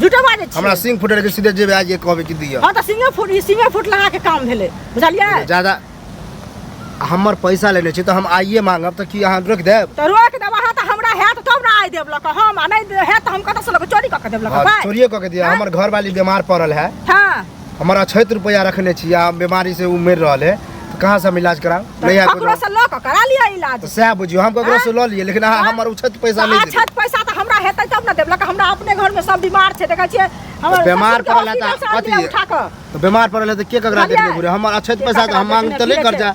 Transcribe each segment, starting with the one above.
झूठो बाजै छी हमरा सिंह फुटल के सीधे जेबे आज ये कहबे कि दिया हां त सिंह फुट ई सिंह फुट लगा के काम भेले बुझलियै ज्यादा हमर पैसा लेने छी त हम आइए मांगब त की अहाँ रोक देब त रोक देब अहाँ त हमरा हैत तब ना आइ देब लक हम आ नै हैत हम कत से लक चोरी क के देब लक चोरी क के दिया हमर घर वाली बीमार पड़ल है हां हमर अछैत रुपैआ रखने छी आ बीमारी से उ मरि रहल है तो कहाँ से हम इलाज कराब नहीं आबि ककरो से लऽ कऽ करा लिअ इलाज तो सएह बुझियौ हम ककरो से लऽ लिए लेकिन अहाँ हमर उछत पैसा नहि देबै छत पैसा तऽ हमरा हेतै तब ने देब लऽ कऽ हमरा अपने घर में सब बीमार छै देखै छियै हमर बीमार ससुर के पड़ल है तऽ hospital से आनलियै कथी? उठा कऽ तऽ बीमार पड़ल है तऽ के ककरा बुझलियै? देखबै बुढ़े हमर अछैत पैसा तऽ हम मांग तऽ नहि कर्जा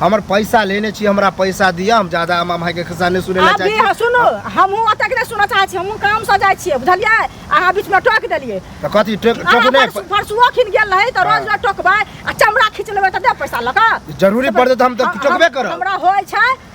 हमर पैसा लेने छी हमरा पैसा दिअ हम ज्यादा हम अमाय के खिस्सा नहि सुनै लए अभी चाहै हाँ, छी सुनू हमहूँ ओतेक नहि सुनऽ चाहै छी हमहूँ कामसँ जाइ छियै बुझलियै अहाँ बीचमे टोकि देलियै तऽ कथी टोक अहाँ टोक नहि परसू- परसुओ खिन गेल रहै तऽ रोज रोज टोकबै आ चमड़ा खींच लेबै तऽ दे पैसा लऽ कऽ जरूरी पड़तै तऽ हम तऽ टोकबे करब हमरा होइ छै